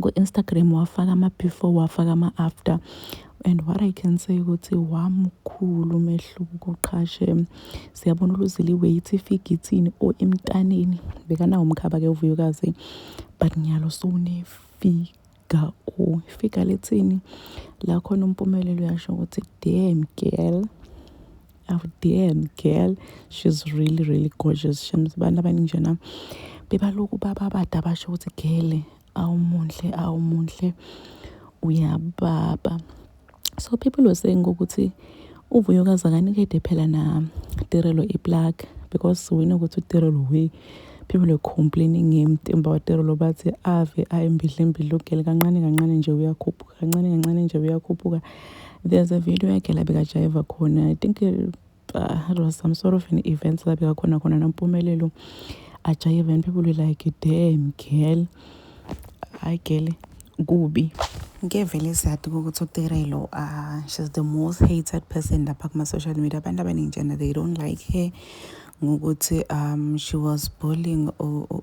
ku-Instagram wafaka ama-before wafaka ama-after and what I can say ukuthi wamukhulu umehluko qhashe siyabona uluzile i-weight ifika ithini or emntaneni bekanawo umkhaba-ke uvuyokazi but ngiyalo sowunefiga or ifiga lithini lakhona umpumelelo uyasho ukuthi damn girl. aw damn girl she's really really gorgeous shems abantu abaningi njena bebalokhu bababade abasho ukuthi gele awumuhle awumuhle uyababa so people were saying ukuthi uvuyokazi akanikede phela na tirelo iplug because we know ukuthi utirelo we People were complaining him Timba waterolo bathi ave ayembidlembidla ugele kancane kancane nje uyakhuphuka kancane kancane nje uyakhuphuka there's a video yakhe la bekajayiva khona i think uh, it was some sort of an event la bekakhona khona nampumelelo ajayiva and people were like damn girl hayi girl kubi ngevele siyadi ukuthi uterelo uh, she's the most hated person lapha kuma-social media abantu abaningi njena they don't like her ngokuthi um she was bullying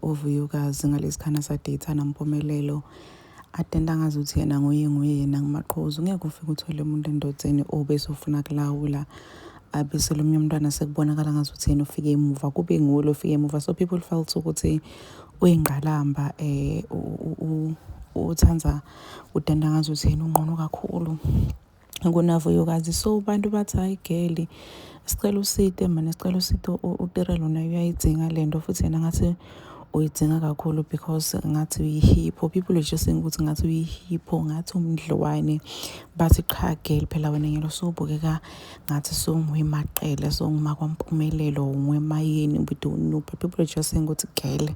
uVuyukazi ngalesikhathi asadate nampumelelo atenda ngazi ukuthi yena nguye nguye yena ngumaqhozi ungeke ufike uthole umuntu endodeni obese ufuna kulawula abese lomunye umntwana sekubonakala ngazi ukuthi yena ufike emuva kube ngulo ufike emuva so people felt ukuthi uyingqalamba eh uthanda utenda ngazi ukuthi yena ungqono kakhulu kunavuyokazi so abantu bathi hayi geli sicela usite mane sicela usite utira lona uyayidzinga le nto futhi yena ngathi uyidzinga kakhulu because ngathi uyihipho people are just saying ukuthi ngathi uyihipho ngathi umdliwane bathi qha geli phela wena ngelo usubukeka ngathi songwemaqele songuma kwampumelelo ngwemayini we don't know but people are just saying ukuthi geli